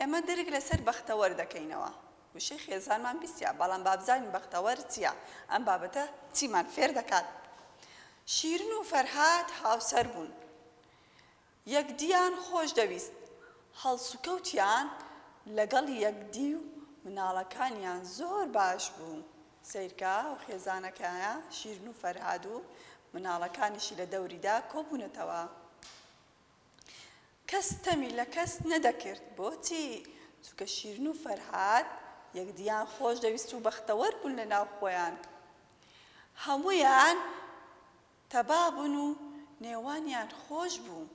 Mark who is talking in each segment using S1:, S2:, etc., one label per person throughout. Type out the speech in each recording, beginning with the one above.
S1: ئێمە درک لەسەر بەختەوەر دەکەینەوە. وشەی خێزانمان بیستیە، بەڵام با بزانین بەختەوەر چییە؟ ئەم بابەتە چیمان فێر دەکات؟ شیرین و فەرهاد هاوسەر بوون. یەکدییان خۆش دەویست. هەڵسوکەوتیان لەگەڵ یەکدی و مناڵەکانیان زۆر باش بوو. سەیرکە ئەو خێزانەکەیە شیرین و فەرهاد و مناڵەکانیشی لە دەوریدا کۆبوونەتەوە. کەس ستەمی لە کەس نەدەکرد بۆچی؟ چونکە شیرین و فەرهاد یەکدییان خۆش دەویست و بەختەوەر بوون لە ناو خۆیان. هەموویان تەبا بوون و نێوانیان خۆش بوو.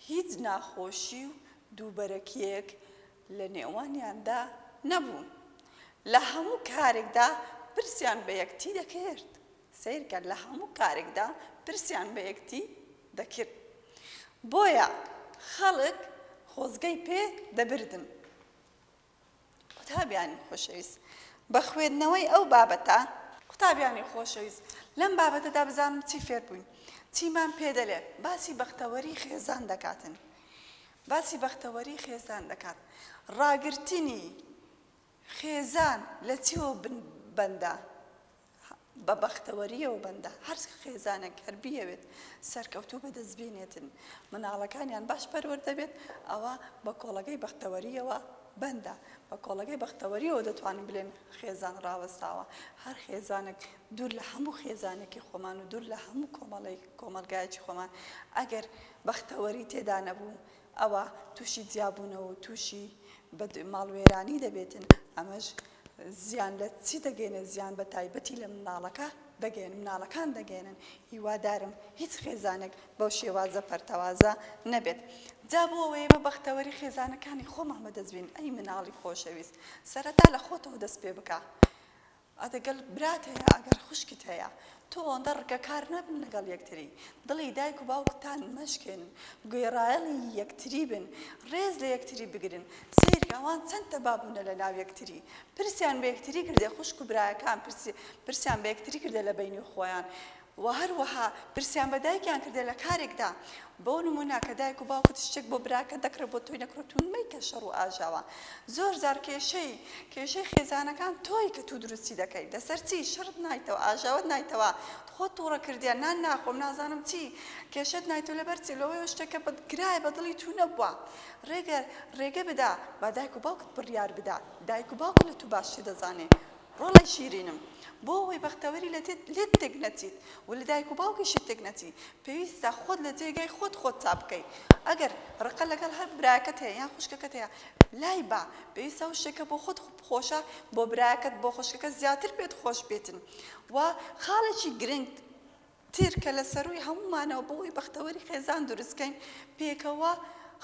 S1: هیچ ناخۆشی و دووبەرەکییەک لە نێوانیاندا نەبوو. لە هەموو کارێکدا پرسیان بە یەکتی دەکرد. سەیرکە لە هەموو کارێکدا پرسیان بە یەکتی دەکرد بۆیە خەڵک خۆزگەی پێ دەبردن. قوتابیانی خۆشەویست بە خوێندنەوەی ئەو بابەتە. قوتابیانی خۆشەویست لەم بابەتەدا بزانم چی فێر بووین چیمان پێ دەلێ باسی بەختەوەری خێزان دەکاتن باسی بەختەوەری خێزان دەکات ڕاگرتنی خێزان لە چیوە بن بەندە بە بەختەوەرییەوە بەندە هەر خێزانێک هەر بیەوێت سەرکەوتوو بەدەست بینێتن مناڵەکانیان باش پەروەردە بێت ئەوە بە کۆڵەگەی بەختەوەرییەوە بەندە بە کۆڵەگەی بەختەوەریەوە دەتوانن بلێن خێزان ڕاوەستاوە هەر خێزانێک دوور لە هەموو خێزانێکی خۆمان و دوور لە هەموو کۆمەڵی کۆمەلگایەکی خۆمان ئەگەر بەختەوەری تێدا نەبوو ئەوە تووشی جیابوونەوە و تووشی ماڵوێرانی دەبێتن ئەمەش زیان لە چی دەگەینێ زیان بە تایبەتی لە مناڵەکە دەگەین مناڵەکان دەگەینن هیوادارم هیچ خێزانێک بەو شێوازە پەرتەوازە نەبێت جا بۆ ئەوەی ئێمە بەختەوەری خێزانەکانی خۆمان بەدەستبین ئەی مناڵی خۆشەویست سەرەتا لە خۆتەوە دەست پێ بکە ئەدەگەل برات هەیە ئەگەر خوشکت هەیە تۆ ئەوەندە ڕکەکار نەبن لەگەڵ یەکتری، دڵی دایک و باوکتان مەشکێنن، گوێڕایەڵی یەکتری بن، ڕێز لە یەکتری بگرن، سەیرکە ئەوان چەند تەبا بوونە لەناو یەکتری، پرسیان بە یەکتری کردە خوشک و برایەکان، پرسیان بە یەکتری کردە لە بەینی خۆیان و هەروەها پرسیان بە دایکیان کردە لە کارێکدا بۆ نمونە کە دایک و باوکت شتێک بۆ براکەت دەکڕێت بۆ تۆی نەکڕێت توو مەیکە شەڕ و ئاژاوە زۆر جار کێشەی کێشەی خێزانەکان تۆی کە توو دروستی دەکەیت لەسەر چی شەڕت نایتەوە ئاژاوەت نایتەوە خۆت توڕە کردیە نان ناخۆم نازانم چی کێشەت نایتەوە لەبەر چی لەوەی ئەو شتەکە بە گرایە بە دڵی توو نەبووە ڕێگە ڕێگە بدە با دایک و باوکت بڕیار بدا دایک و باوکت لە توو باشتر دەزانێت ڕۆڵەی شیرینم بۆ ئەوەی بەختەوەری لە لێت تێک نەچیت و لە دایک و باوکیشت تێک نەچی پێویستە خۆت لە جێگای خۆت خۆت چاپ بکەی ئەگەر ڕقە لەگەڵ هەر برایەکەت هەیە یان خوشکەکەت هەیە لای بە پێویستە ئەو شتێک کە بۆ خۆت خۆشە بۆ برایەکەت بۆ خوشکەکەت زیاتر پێت خۆش بێتن و خاڵێکی گرنگ تر کە لە سەرووی هەموومانەوە بۆ ئەوەی بەختەوەری خێزان دروست بکەین پێکەوە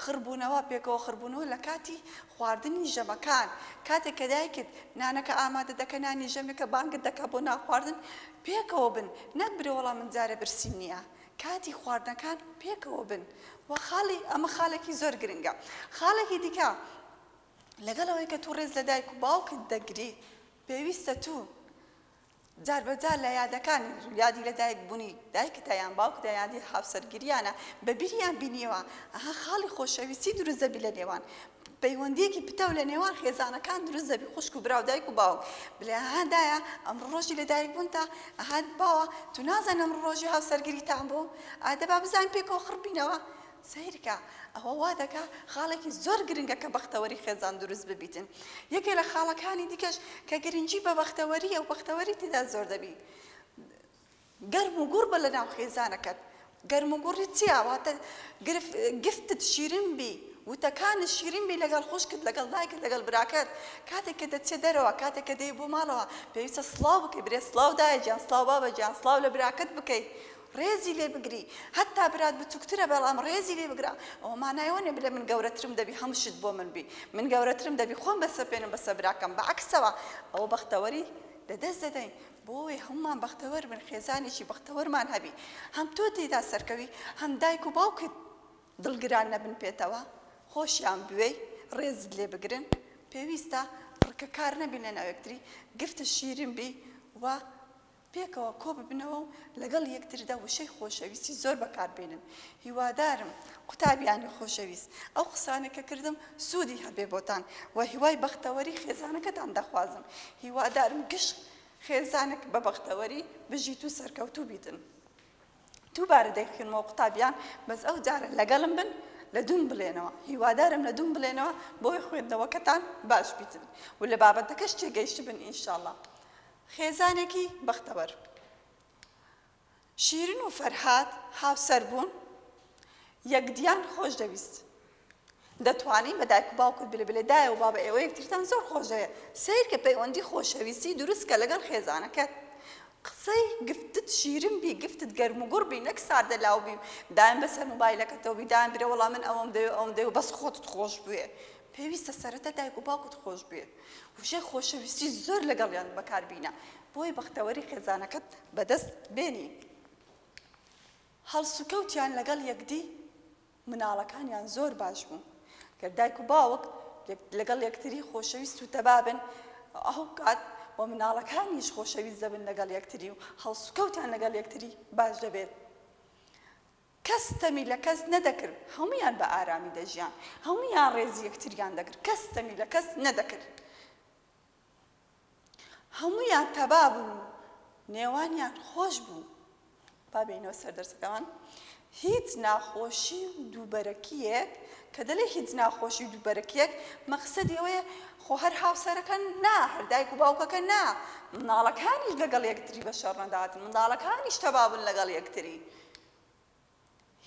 S1: خڕ بوونەوە، پێکەوە خڕ بوونەوە لە کاتی خواردنی ژەمەکان، کاتێک کە دایکت نانەکە ئامادە دەکە نانی ژەمێکە بانگت دەکا بۆ نان خواردن پێکەوە بن نەک برێ وەڵا من جارێ برسیم نییە کاتی خواردنەکان پێکەوە بن و خاڵی ئەمە خالێکی زۆر گرنگە خاڵێکی دیکە لەگەڵ ئەوەی کە توو ڕێز لە دایک و باوکت دەگری پێویستە توو جاربەجار لە یادەکان یادی لە دایک بونی دایکتە یان باوکتە یادی هاوسەرگیریانە بە بیریان بینیەوە ئەها خاڵی خۆشەویستی دروست دەبی لە نێوان پەیوەندیەکی پتەو لە نێوان خێزانەکان دروست دەبی خوشک و برا و دایک و باوک بلێ ها دایە ئەمڕۆ ڕۆژی لە دایک بونتە ئەها باوە تو نازانی ئەمڕۆ ڕۆژی هاوسەرگیریتان بوو ئا دەبا بزانین پێکەوە خڕبینەوە سەیرکە ئەوە وا دەکا خاڵێکی زۆر گرنگە کە بەختەوەری خێزان دروست ببیتن یەکێ لە خاڵەکانی دیکەش کە گرنگی بە بەختەوەریە و بەختەوەری تیدا زۆر دەبی گەرم و گوڕ بە لە ناو خێزانەکەت گەرم و گوڕی چیا واتە گفتت شیرین بی وتەکانت شیرین بی لەگەڵ خوشکت لەگەڵ دایکت لەگەڵ براکەت کاتێک کە دەچێت دەرەوە کاتێک کە دێی بۆ ماڵەوە پێویستە سڵاو بکەی برێ سڵاو دایە گیان سڵاو بابە گیان سڵاو لە براکەت بکەی ڕێزی لێ بگری هەتا برات بچوکترە بەڵام ڕێزی لێ بگرە ئەوە مانای ئەوە نیە بڵێ من گەورەترم دەبی هەموو شت بۆ من بی من گەورەترم دەبی خۆم بەسەپێنم بەسەر براکەم بە عەکسەوە ئەوە بەختەوەری لە دەست دەدەین بۆیە هەموومان بەختەوەر بن خێزانێکی بەختەوەرمان هەبی هەم تۆ تێیدا سەرکەوی هەم دایک و باوکت دڵگران نەبن پێتەوە خۆشیان بوێی ڕێزت لێ بگرن پێویستە فڕکەکار نەبین لەناو یەکتری گفتت شیرین بی و پێکەوە کۆببنەوە و لەگەڵ یەکتردا وشەی خۆشەویستی زۆر بەکاربێنن هیوادارم قوتابیانی خۆشەویست ئەو قسانەی کە کردم سوودی هەبێ بۆتان و هیوای بەختەوەری خێزانەکەتان دەخوازم هیوادارم گشت خێزانەک بە بەختەوەری بژیت و سەرکەوتوو بیتن. دووبارە دەیخوێنمەوە قوتابیان بەس ئەو جارە لەگەڵم بن لە دووم بڵێنەوە هیوادارم لە دووم بڵێنەوە بۆی خوێندنەوەکەتان باش بیتن و لە بابەتەکەش تێگەیشتبن ئینشاڵا خێزانێکی بەختەوەر شیرن و فەرهاد هاوسەر بوون یەکدیان خۆش دەویست دەتوانی بە دایک و باوکت بلێ بلێ دایە و بابە ئێوە یەکترتان زۆر خۆش دەوێ سەیرکە پەیوەندی خۆشەویستی دروست کە لەگەڵ خێزانەکەت قسەی گفتت شیرن بی گفتت گەرم و گوڕ بی نەک ساردە لاو بی دایم بەسەر موبایلەکەتەوە بی دایم برێ وەڵا من ئەوەم دەوێ ئەوم دەوێ بەس خۆتت خۆش بوێ پێویستە سەرەتا دایک و باوکت خۆش بوێ وشەی خۆشەویستی زۆر لەگەڵیان بەکار بینە بۆی بەختەوەری خێزانەکەت بەدەست بێنی هەڵسوکەوتیان لەگەڵ یەکدی مناڵەکانیان زۆر باش بوون گەر دایک و باوک لەگەڵ یەکتری خۆشەویست و تەبابن ئەو کات و مناڵەکانیش خۆشەویست دەبن لەگەڵ یەکتری و هەڵسوکەوتان لەگەڵ یەکتری باش دەبێت کەس ستەمی لە کەس نەدەکرد هەمویان بە ئارامی دەژیان هەمویان ڕێزی یەکتریان دەگرت کەس ستەمی لە کەس نەدەکرد هەموویان تەبا بوون و نێوانیان خۆش بوو. با بێینەوە سەر دەرسەکەمان. هیچ ناخۆشی و دووبەرەکییەک، کە دەلێ هیچ ناخۆشی و دووبەرەکییەک، مەقسەدی ئەوەیە خۆ هەر هاوسەرەکە نا، هەر دایک و باوکەکە نا، منداڵەکانیش لەگەڵ یەکتری بە شەڕ نەداتن، منداڵەکانیش تەبا بن لەگەڵ یەکتری.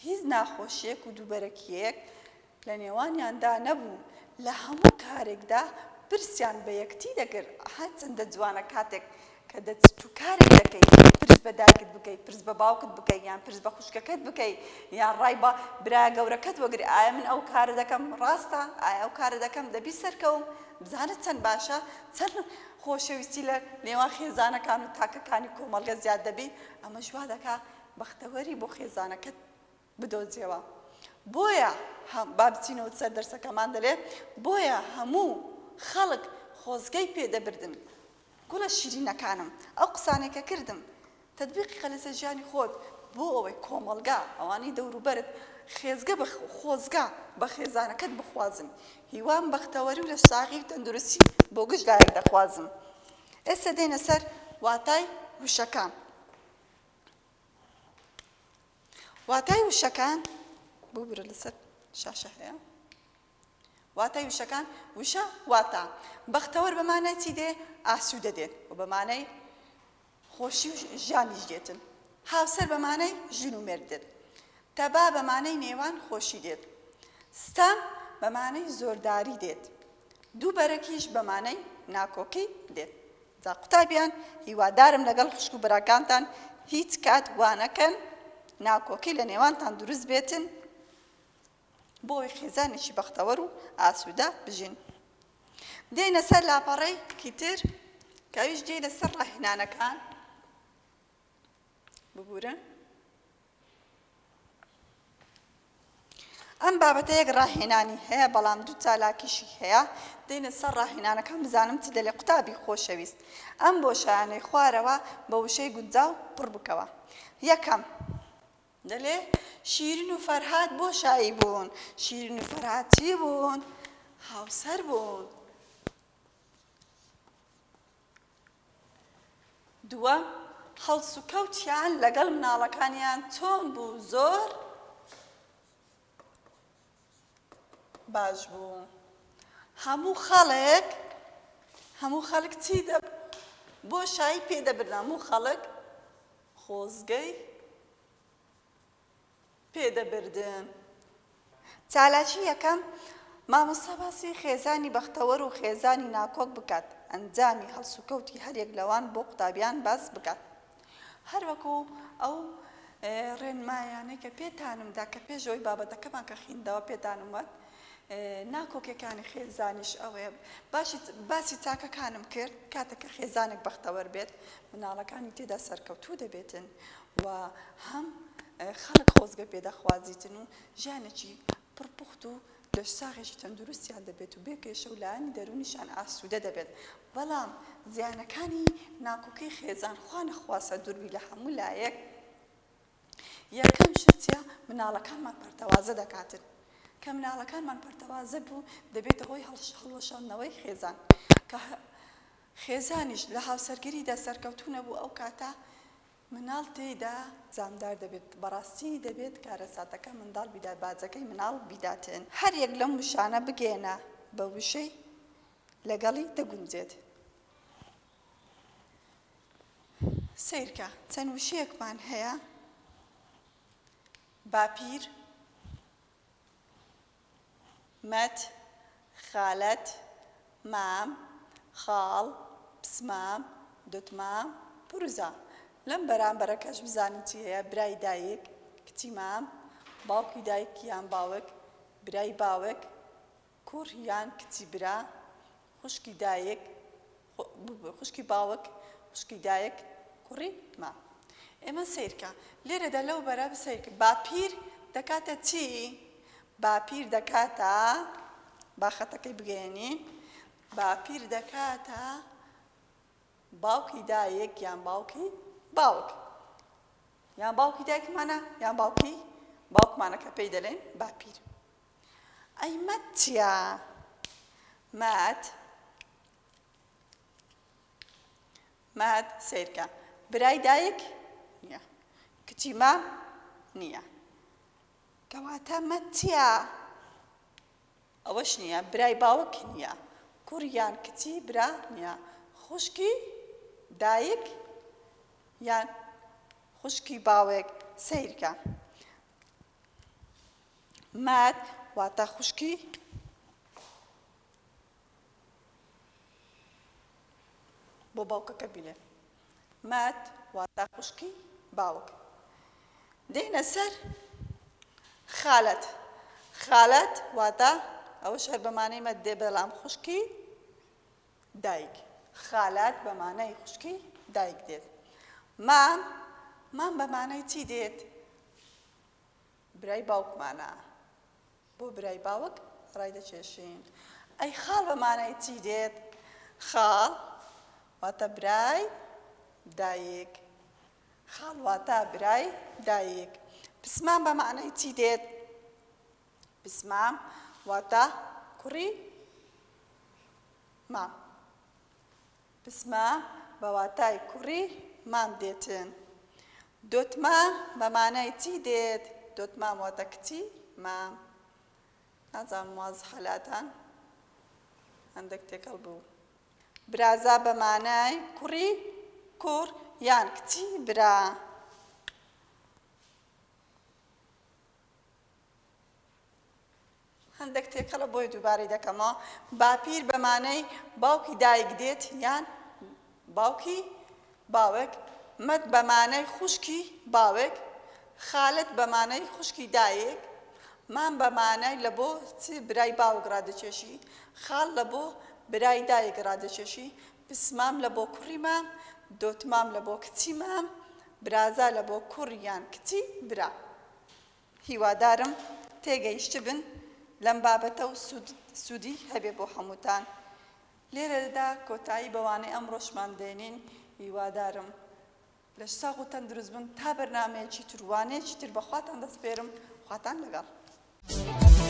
S1: هیچ ناخۆشیەک و دووبەرەکیەک لە نێوانیاندا نەبوو، لە هەموو کارێکدا پرسیان بە یەکتی دەکرد، ئەها چەندە جوانە کاتێک کە دەچیت و کارێک دەکەی پرس بە دایکت بکەی، پرس بە باوکت بکەی، یان پرس بە خوشکەکەت بکەی، یان ڕای بە برایە گەورەکەت وەگری، ئایا من ئەو کارە دەکەم ڕاستە، ئایا ئەو کارە دەکەم دەبی سەرکەوم، بزانە چەند باشە، چەند خۆشەویستی لە نێوان خێزانەکان و تاکەکانی کۆمەڵگە زیاد دەبی، ئەمەش وا دەکا بەختەوەری بۆ خێزانەکەت بدۆزیەوە بۆیە با بچینەوە سەر دەرسەکەمان دەلێ بۆیە هەموو خەڵک خۆزگەی پێدەبردن گوڵە شیرینەکانم ئەو قسانێک کە کردم تدبیقی قە لەسەر ژیانی خۆت بۆ ئەوەی کۆمەڵگا ئەوانی دەوروبەرت خێزگە بە خۆزگە بە خێزانەکەت بخوازن هیوام بەختەوەری و لە ساغی و تەندروستی بۆ گشت لایەک دەخوازم ئێستا دێنە سەر واتای وشەکان واتای وشەکان ببورە لەسەر شاشە هەیە واتای وشەکان وشە واتا بەختەوەر بە مانای چی دێ ئاسوودە دێت و بە مانای خۆشی و ژیانیش دێتن هاوسەر بە مانای ژن و مرد دێت تەبا بە مانای نێوان خۆشی دێت ستەم بە مانای زۆرداری دێت دووبەرەکیش بە مانای ناکۆکی دێت. جا قوتابیان هیوادارم لەگەڵ خوشک و براکانتان هیچ کات وانەکەن ناکۆکی لە نێوانتان دروست بێتن بۆ ئەوەی خێزانێکی بەختەوەر و ئاسوودە بژین. دێینە سەر لاپەڕەیەکی تر کە ئەویش دێینە سەر ڕاهێنانەکان. ببورە ئەم بابەتە یەک ڕاهێنانی هەیە بەڵام دوو چالاکیشی هەیە دێنە سەر ڕاهێنانەکان بزانم چ دەلێ قوتابی خۆشەویست ئەم بۆ شایانەی خوارەوە بە وشەی گونجاو پڕ بکەوە یەکەم دەلێ شیرین و فەرهاد بۆ شایی بوون شیرین و فەرهاد چی بوون هاوسەر بوون دووە هەڵسوکەوتیان لەگەڵ مناڵەکانیان چۆن بوو زۆر باش بوو هەموو خەڵک هەموو خەڵک چی دەب بۆ شایی پێدەبرن هەموو خەڵک خۆزگەی پێدەبردن. چالاکی یەکەم، مامۆستا باسی خێزانی بەختەوەر و خێزانی ناکۆک بکات، ئەنجامی هەڵسوکەوتی هەریەک لەوان بۆ قوتابیان باس بکات. هەروەکو ئەو ڕێنمایانەی کە پێتانم دا کە پێش ئەوەی بابەتەکەمان کە خیندەوە پێتانم وت ناکۆکیەکانی خێزانیش ئەوەیە باشی باسی چاکەکانم کرد کاتێک کە خێزانێک بەختەوەر بێت مناڵەکانی تێدا سەرکەوتوو دەبێتن و هەم خەڵک خۆزگە پێ دەخوازیتن و ژیانێکی پڕ پوخت و لەشساغێکی تەندروستیان دەبێت و بێ کێشە و لایەنی دەروونیشیان ئاسوودە دەبێت، بەڵام زیانەکانی ناکۆکیی خێزان خوا نەخواستە دوور بی لە هەموو لایەک، یەکەم شت چییە؟ مناڵەکانمان پەرتەوازە دەکاتن، کە مناڵەکانمان پەرتەوازە بوو دەبێتە هۆی هەڵوەشاندنەوەی خێزان، کە خێزانیش لە هاوسەرگیریدا سەرکەوتوو نەبوو ئەو کاتە مناڵ تێیدا زامدار دەبێت بەڕاستی دەبێت کارەساتەکە منداڵ بیدات باجەکەی مناڵ بیداتێن. هەر یەک لەم وشانە بگەیەنە بە وشەی لەگەڵی دەگونجێت. سەیرکە چەند وشەیەکمان هەیە، باپیر، مەت، خالەت، مام، خاڵ، پسمام، دتمام، پرزا، لەم بەرامبەرە کەش بزانین چی هەیە، برای دایک، کچی مام، باوکی دایک یان باوک، برای باوک، کوڕ یان کچی برا، خوشکی دایک، خوشکی باوک، خوشکی دایک، کوڕی مام. ئێمە سەیرکە. لێرەدا لەو بەرە سەیرکە. باپیر دەکاتە چی؟ باپیر دەکاتە، با خەتەکەی بگەیەنین، باپیر دەکاتە باوکی دایک یان باوکی باوک. یان باوکی دایکمانە یان باوکی باوکمانە کە پێی دەلێن باپیر. ئەی مەت چیە مەت مەت سیرکە برای دایک نیە کچی مام نیە کەواتە مەت چیە ئەوەش نیە برای باوک نیە کوڕیان کچی برا نیە خوشکی دایک یان خوشکی باوێک سیرکە مات واتە خوشکی بۆ باوکەکە بیلێ مات واتە خوشکی باوک دێنە سەر خالەت خالەت واتە ئەوە شەر بەمانەی مەدێ بەڵام خوشکی دایک، خالات بە مانای خوشکەی دایک دێت. مام، مام بە مانای چی دێت؟ برای باوکمانە. بۆ برای باوک ڕایدەکێشین. ئەی خاڵ بە مانای چی دێت؟ خاڵ واتە برای دایک. خاڵ واتە برای دایک. پسمام بە مانای چی دێت؟ بسمام واتە کوڕی مام بسمە بە واتای کوڕی مام دێتن دۆتما بە مانای چی دێت دۆتما واتە کچی مام نازان واز حەلاتان هەندێک تێکەڵ بوو برازا بە مانای کوڕی کوڕ یان کچی برا هەندەک تێکەڵە بۆیە دووبارەی دەکەمەوە باپیر بە مانای باوکی دایک دێت یان باوکی باوک مەد بە مانای خوشکی باوک خالت بە مانای خوشکی دایک مام بە مانای لە بۆ چ برای باوک ڕادەچێشی خاڵ لە بۆ برای دایک ڕادەچێشی پسمام لە بۆ کوڕی مام دۆتمام لە بۆ کچی مام برازا لە بۆ کوڕیان کچی برا هیوادارم تێگەیشتبن لەم بابەتە و سوودی هەبێ بۆ هەمووتان. لێرەدا کۆتایی بە وانەی ئەمڕۆشمان دێنین، هیوادارم لەش ساغ و تەندروست بن تا بەرنامەیەکی تر و وانەیەکی تر بە خواتان دەسپێرم، خواتان لەگەڵ.